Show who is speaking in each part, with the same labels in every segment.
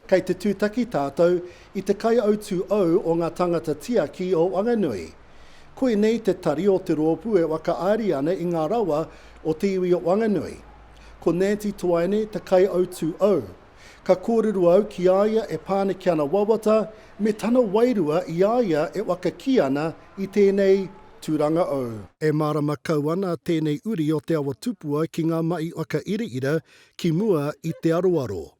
Speaker 1: Kei te tūtaki tātou i te kaiautū ou o ngā tāngata tiaki o Wanganui. Koinei te tari o te rōpū e whakaari ana i ngā rawa o te iwi o Wanganui. Ko Nanti Toaene te kaiautū au. Ka kōrero au ki a ia e Pāneke ana wawata me tana wairua i a ia e waka kī ana i tēnei tūranga au. E mārama kau ana tēnei uri o Te Awa Tupua ki ngā mahi whakairaira ki mua i te aroaro.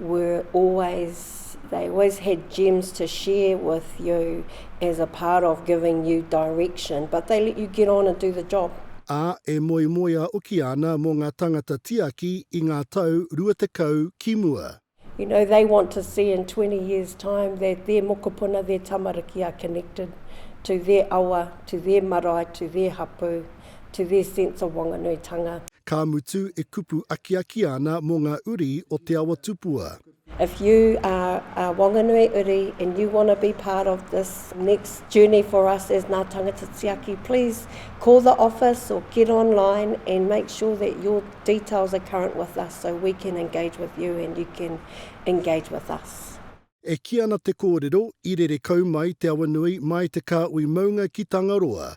Speaker 2: were always, they always had gems to share with you as a part of giving you direction, but they let you get on and do the job. Ā, e
Speaker 1: moemoea hoki ana mō ngā tāngata tiaki i ngā tau rua tekau ki mua. You know, they want
Speaker 2: to see in 20 years time that their mokopuna, their tamariki are connected to their awa, to their marae, to their hapū. to their sense of Wanganuitanga. Ka mutu
Speaker 1: e kupu akiaki ana mo nga uri o Te Awa Tupua. If you
Speaker 2: are a Wanganui uri and you want to be part of this next journey for us as Nga Tangata Tiaki, please call the office or get online and make sure that your details are current with us so we can engage with you and you can engage with us. E kī ana
Speaker 1: te kōrero, i rere kau mai Te Awanui mai te kāhui maunga ki Tangaroa,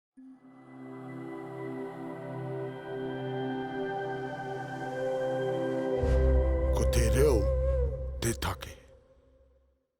Speaker 1: Ko te reo te take.